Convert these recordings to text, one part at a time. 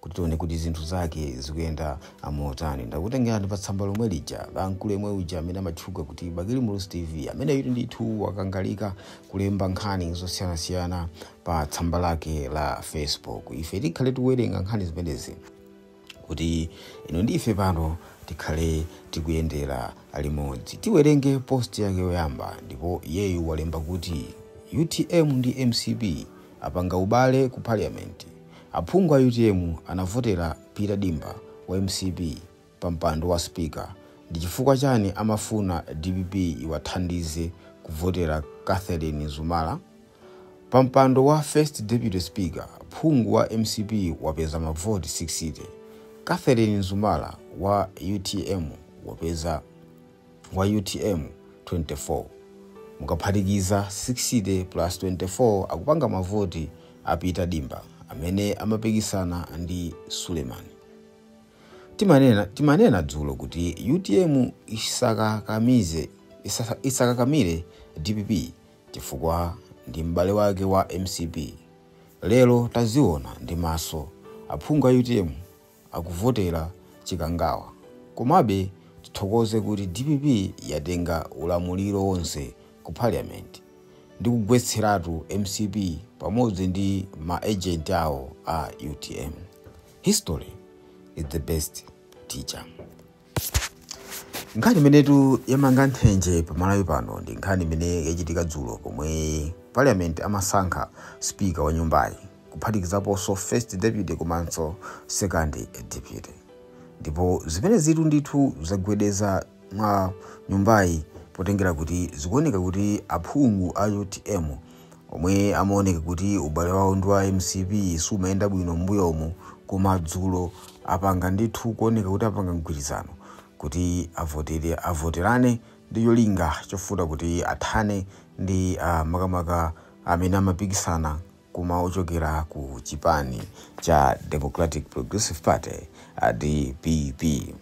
kuti tione kuti zinthu zake zikuyenda motani ndakutengerani pa tsamba lomwe lija la mkulu yemwe uja amene amatchuka kuti bakili muluzi tv ameneyutu ndithu wakangalika kulemba nkhani zosiyanasiyana pa tsamba lake la facebook ife tikhale tikuwerenga nkhani zimenezi kuti inu ndi ife pano tikhale tikuyendera limodzi tiwerenge post yake yoyamba ndipo iyeyu walemba kuti utm ndi mcp apanga ubale ku parliament Aphungu a utm anavotela Peter Dimba wa mcp pa mpando wa speaker ndichifukwa chani amafuna dpp iwathandize kuvotela Catherine Zumala pa mpando wa first deputy speaker phungu wa mcp wapeza mavoti 60 Catherine Zumala wa utm wapeza wa utm 24 mukaphatikiza 60 plus 24 akupanga mavoti a peter dimba amene amapikisana ndi suleman timanena dzulo kuti utm isakakamire dpp chifukwa ndi m'bale wake wa mcp lero taziona ndi maso aphungu a utm akuvotera chikangawa komabe tithokoze kuti dpp yatenga ulamuliro wonse ku parliament ndi kugwetseratu mcp pamodzi ndi ma agent awo a utm. History is the best teacher. Nkhani imenetu yamanga nthenje pa Malawi pano ndi nkhani imene yachitika dzulo pomwe Parliament amasankha speaker wa nyumbayi kuphatikizaponso first deputy komanso second deputy ndipo zimenezitu ndithu zagwedeza mwa nyumbayi potengera kuti zikuoneka kuti aphungu a utm omwe amaoneka kuti ubale wawo ndi wa mcp sumayenda bwino m'mbuyomu koma dzulo apanga ndithu kuoneka kuti apanga mgwirizano kuti avotere avoterane ndi cholinga chofuna kuti athane ndi ah, makamaka amene amapikisana koma ochokera ku chipani cha democratic progressive party a dpp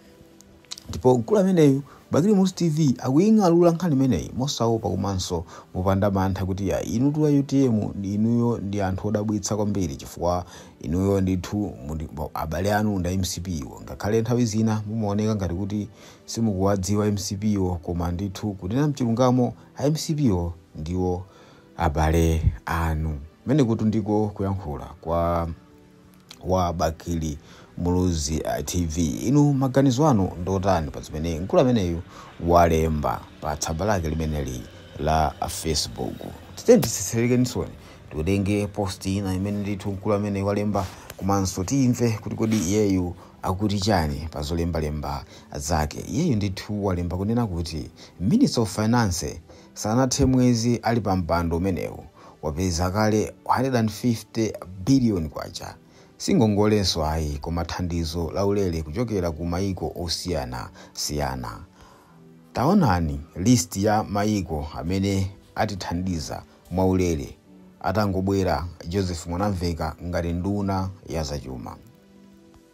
Ndipo mkulu ameneyu Bakili Muluzi TV akuying'alula nkhani imeneyi mosaopa komanso mopanda mantha kuti ya inutu a utm inuyo ndi anthu odabwitsa kwambiri chifukwa inuyo ndithu abale anu ndi a mcp wo ngakhale nthawi zina mumaoneka ngati kuti simukuwadziwa mcp wo koma ndithu kunena mchilungamo a mcp wo ndiwo abale anu kumenekutu ndiko kuyankhula kwa wa bakili muluzi uh, tv inu maganizo anu ndotani pa zimene mkulu ameneyu walemba pa tsamba lake limeneli la facebook titenitsetsereke nizoni tiwerenge post ina imene ndithu mkulu ameneyu walemba komanso timve kuti kodi iyeyu akuti chani pa zolembalemba zake iyeyu ndithu walemba kunena kuti Minister of finance Sanathe mwezi ali pa mpando umenewu wapeza kale 150 billion kwacha. Si ngongolenso ayi koma thandizo la ulere kuchokera ku mayiko osiyana siyana. Taonani list ya mayiko amene atithandiza mwa ulere atangobwera Joseph Mwanamveka ngati nduna ya zachuma.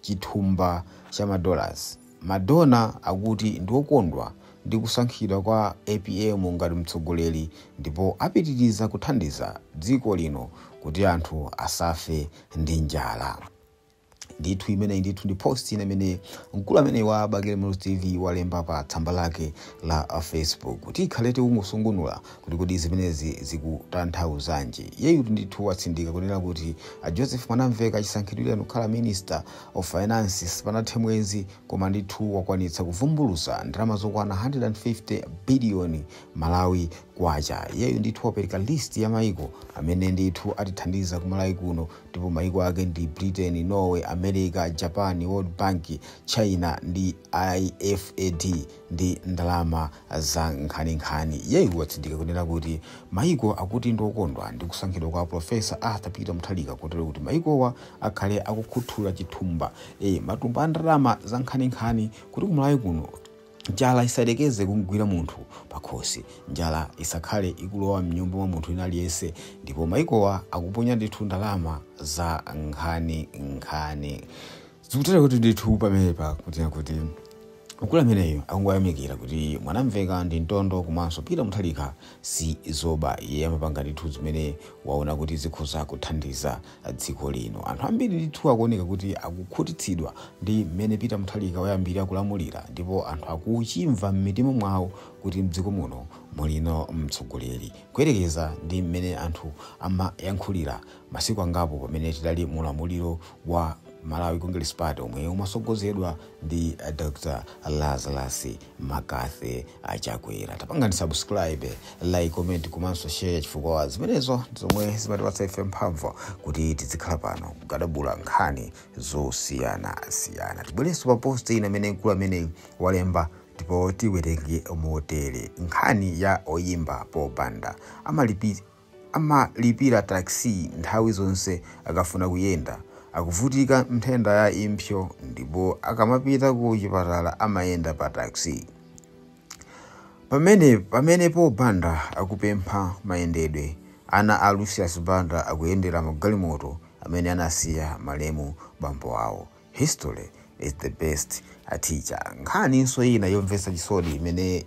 chithumba cha ma dollars. Ma donor akuti ndiokondwa ndi kusankhidwa kwa apm ngati mtsogoleri ndipo apitiriza kuthandiza dziko lino kuti anthu asafe ndi njala. Ndithu imeneyi ndithu ndi post ina imene mkulu ameneyu wa Bakili Muluzi TV walemba pa tsamba lake la Facebook. Tikhale tikungosungunula kuti kodi zimenezi zikutanthauzanji? Iyeyutu ndithu watsindika kunena kuti Joseph Mwanamveka chisankhidwireni kukhala Minister of Finance sipanathe mwezi koma ndithu wakwanitsa kuvumbulutsa ndalama zokwana 150 billion Malawi Kwacha. Iyeyu ndithu wapereka list ya maiko amene ndithu atithandiza ku Malawi kuno ndipo maiko ake ndi Britain, Norway, America, Japan, World Bank, China ndi IFAD ndi ndalama Za nkhani nkhani. Iyeyu watsindika kunena kuti maiko akuti ndi okondwa ndi kusankhidwa kwa a Prof. Arthur Peter Mutharika kotero kuti maikowa akhale akukhuthula chithumba, ee, matumba a ndalama za nkhani nkhani kuti ku Malawi kuno njala isayerekeze kumgwira munthu pakhosi, njala isakhale ikulowa mnyumba mwa munthu wina aliyense ndipo maikowa akuponya ndithu ndalama za nkhani nkhani. Zikutera kuti ndithu pamenepa kuti kuti mkulu ameneyu akungoyamikira kuti Mwanamveka ndi mtondo komanso Peter Mutharika si zoba. Iye amapanga ndithu zimene waona kuti zikhoza kuthandiza dziko lino. Anthu ambiri ndithu akuoneka kuti akukhutitsidwa ndi mmene Peter Mutharika wayambira kulamulira ndipo anthu akuchimva m'mitima mwawo kuti mdziko muno mulino mtsogoleri kuyerekeza ndi mmene anthu amayankhulira Masiku angapo pamene tidali mu ulamuliro wa Malawi Congress Party omwe umasogozedwa ndi Dr Lazarus McCarthy Chakwera. Tapangani subscribe, like, comment komanso share chifukwa zimenezo zomwe zimatipatsa ife mphamvu kuti tizikhala pano kugadabula nkhani zosiyana siyana. Tibwerenso pa post ina imene mkulu ameneyu walemba ndipo tiwerenge motere nkhani ya oyimba Pop Banda amalipira Amalipira taxi nthawi zonse akafuna kuyenda. Akuvutika nthenda ya impsyo ndipo akamapita ku chipatala amayenda pa taxi. Pamene pamene Paul Banda akupempha mayendedwe, ana a Lucius Banda akuyendera magalimoto amene anasiya malemu bambo awo. History is the best a teacher. Nkhaninso ina yomvetsa chisoni imene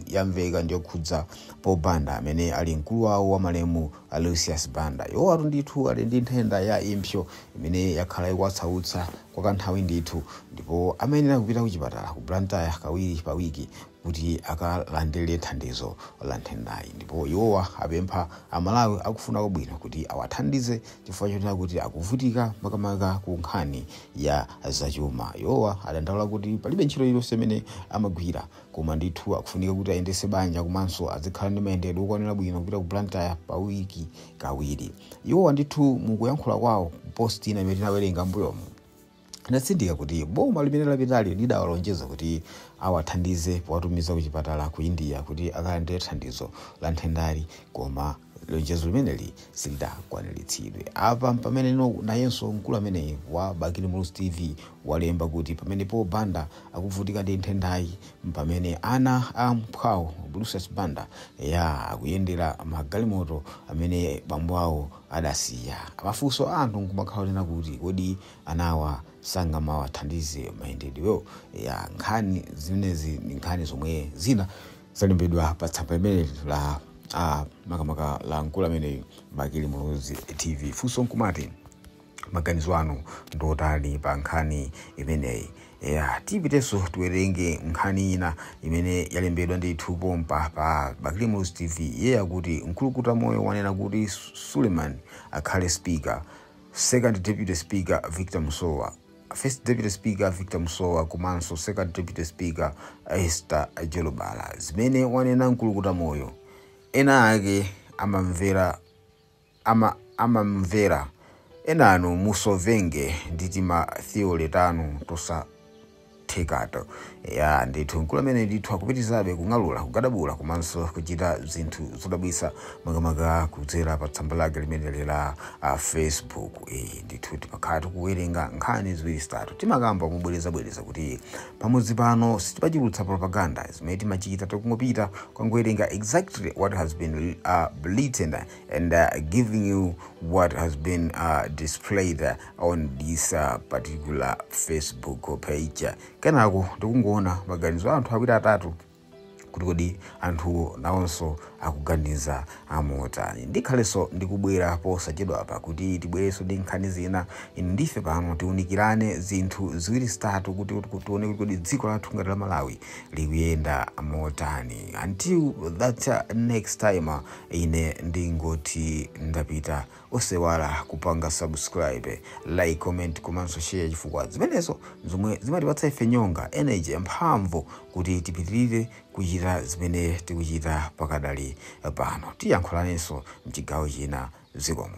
yamveka ndiyokhudza Paul Banda amene ali mkulu wawo wa malemu a Lucius Banda. Iwowatu ndithu ali ndi nthenda ya impsyo imene yakhala ikuwasautsa kwa kanthawi ndithu ndipo amayenera kupita ku chipatala ku Blantyre kawiri pa wiki kuti akalandire thandizo la nthendayi ndipo iwowa apempha Amalawi akufuna kwabwino kuti awathandize chifukwa chonena kuti akuvutika makamaka ku nkhani ya zachuma. Iwowa adandaula kuti palibe ntchito iliyonse imene amagwira koma ndithu akufunika kuti ayendese banja komanso azikhala ndi mayendedwe okwanira bwino kupita ku Blantyre pa wiki kawiri. Iwowa ndithu mukuyankhula kwawo post ina imene tinawerenga mbuyomu, Anatsindika kuti boma limene lapitali lidawalonjeza kuti awathandiza powatumiza kuchipatala ku India kuti akalandire thandizo la nthendali koma lonjezo limeneli silidakwaniritsidwe. Apa mpamene nayenso mkulu ameneyi wa Bakili Muluzi TV walemba kuti pamene Paul Banda akuvutika ndi nthendayi mpamene ana a mphwawo Lucius Banda ya akuyendera magalimoto amene bambo awo adasiya mafunso a anthu nkumakhala onena kuti kodi anawa sangamawathandize mayendedwewo? Eya, nkhani zimenezi ndi nkhani zomwe zina zalembedwa pa tsamba limeneli la a makamaka la mkulu ameneyu Bakili Muluzi TV. Funso nkumati maganizo anu ndi otani pa nkhani imeneyi? Eya, tipitenso tiwerenge nkhani ina imene yalembedwa ndithu pompa pa Bakili Muluzi TV. Iye akuti Mkulukuta Moyo wanena kuti Suleman akhale speaker, second deputy speaker Victor Musowa, first deputy speaker Victor Musowa komanso second deputy speaker Esther Jolobala. Zimene wanena Mkulukuta Moyo, ena ake amamvera. amamvera enanu musovenge ndi tima theory tanu tosathekato eya ndithu mkulu amene ndithu akupitirizabe kung'alula kugadabula komanso kuchita zinthu zodabwitsa makamaka kudzera pa tsamba lake limeneli la ah, facebook eh, ndithu timakhala tikuwerenga nkhani ziwiri zitatu timakamba mobwerezabwereza kuti pamudzi pano sitimachulutsa propaganda zimene timachita timangopita kukangowerenga exactly what has been uh, written and uh, giving you what has been uh, displayed uh, on this uh, particular facebook page kenako tikungoona maganizo a anthu awiri atatu kuti kodi anthuwo nawonso akuganiza zamotani ndikhalenso ndikubwera posachedwa apa kuti tibwerenso ndi nkhani zina inu ndife pano tiunikirane zinthu ziwiri zitatu kuti kuti tione kuti kodi dziko lathu ngati la malawi likuyenda motani until that uh, next time uh, Ine ndingoti ndapita osewala kupanga subscribe, like, comment komanso share chifukwa zimenezo nzomwe zimatipatsa ife nyonga, energy, mphamvu kuti tipitirire kuchita zimene tikuchita pakadali pano. Tiyankhulanenso mchigawo china zikomo.